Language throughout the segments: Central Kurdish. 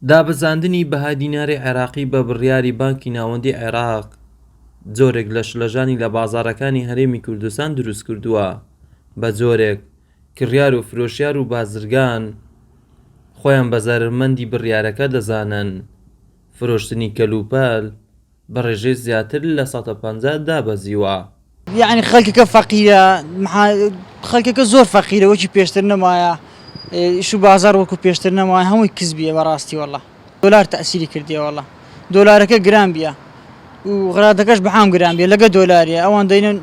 دابەزاندنی بەهای دیناری عێراقی بە بڕیاری بانکی ناوەندیی عێراق جۆرێک لە شڵەژانی لە بازاڕەکانی هەرێمی کوردستان دروستکردووە بە جۆرێک کڕیار و فرۆشیار و بازرگان خۆیان بە زەرەرمەندی بڕیارەکە دەزانن فرۆشتنی کەلوپەل بە ڕێژەی زیاتر لە سەتا پەنجا دابەزیوە. یەعنی خەلکەکە فەقیرە محا خەلکەکە زۆر فەقیرە وەکی پێشتر نەمایە ئیشو بازار وەکو پێشتر نەمایە هەمووی کزبیە بەراستی واللە دۆلار تەئسیری کردیە واللە دۆلارەکە گران بیە و غرادەکەش بەحام گران بیە لەگە دۆلاریە ئەوان دەینن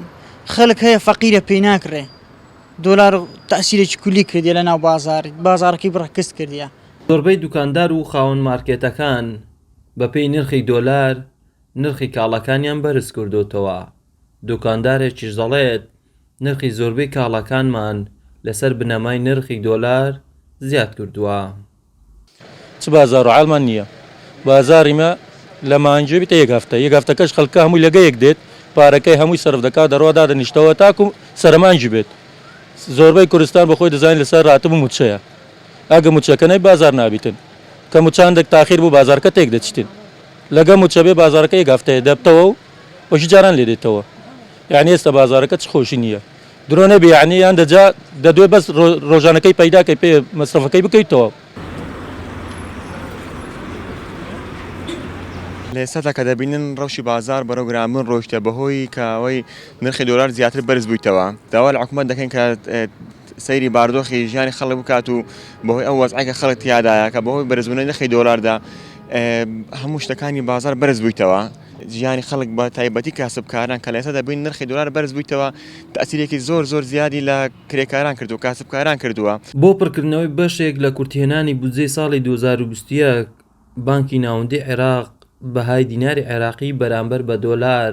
خەلک هەیە فەقیرە پێی ناکرێ دۆلار تەئسیرێکی کولی کردیە لەناو بازار بازارەکەی بڕە کز کردیە. زۆربەی دوکاندار و خاوەن مارکێتەکان بەپێی نرخی دۆلار نرخی کاڵاکانیان بەرزکردۆتەوە، دوکاندارێکیش دەڵێت، نرخی زۆربەی کاڵاکانمان لەسەر بنەمای نرخی دۆلار زیادکردووە. چ بازار و عالمان نیە بازاری مە لە مانگی بتە یەک هەفتە یەک هەفتەکەش خەلکە هەموی لە گەیەک دێت پارەکەی هەموی سەرف دەکات دەڕوا دادەنیشتەوە تاکو سەرە مانگی بێت زۆربەی کوردستان بەخۆی دەزانی لەسەر راتب و موچەیە ئەگە موچەکە نەی بازار نابیتن کە مچاندەک تاخیر بوو بازارکە تێک دەچتن لەگە مچە بێ بازارەکە یەک هەفتەیە دەبتەوە و وەکی جاران لێ دێتەوە یعنی ئێستا بازارەکە چ خۆشی نییە درۆ نەبی یعنی یان دەجا دەدوێ بەس ڕۆژانەکەی پەیداکەی پێ مەسرەفەکەی بکەی تەواو. لە ئێستادا کە دەبینن ڕەوشی بازار بەرەو گرانبوون ڕۆیشتە بەهۆی کە ئەوەی نرخی دۆلار زیاتر بەرز بوویتەوە داوا لە حکومەت دەکەین کە سەیری باردۆخی ژیانی خەڵک بکات و بەهۆی ئەو وەزعەی کە خەڵک تیادایە کە بەهۆی بەرزبوونەوەی نرخی دۆلاردا هەموو شتەکانی بازار بەرز بوویتەوە ژیانی خەڵک بە تایبەتی کاسبکاران کە لە ئێستا دەبین نرخی دۆلار بەرز بوویتەوە تەسیرێکی زۆر زۆر زیادی لە کرێکاران کرد و کاسبکاران کردووە. بۆ پڕکردنەوەی بەشێک لە کورتهێنانی بودجەی ساڵی دوو هەزار و بیست و یەک، بانکی ناوەندیی عێراق بەهای دیناری عێراقی بەرامبەر بە دۆلار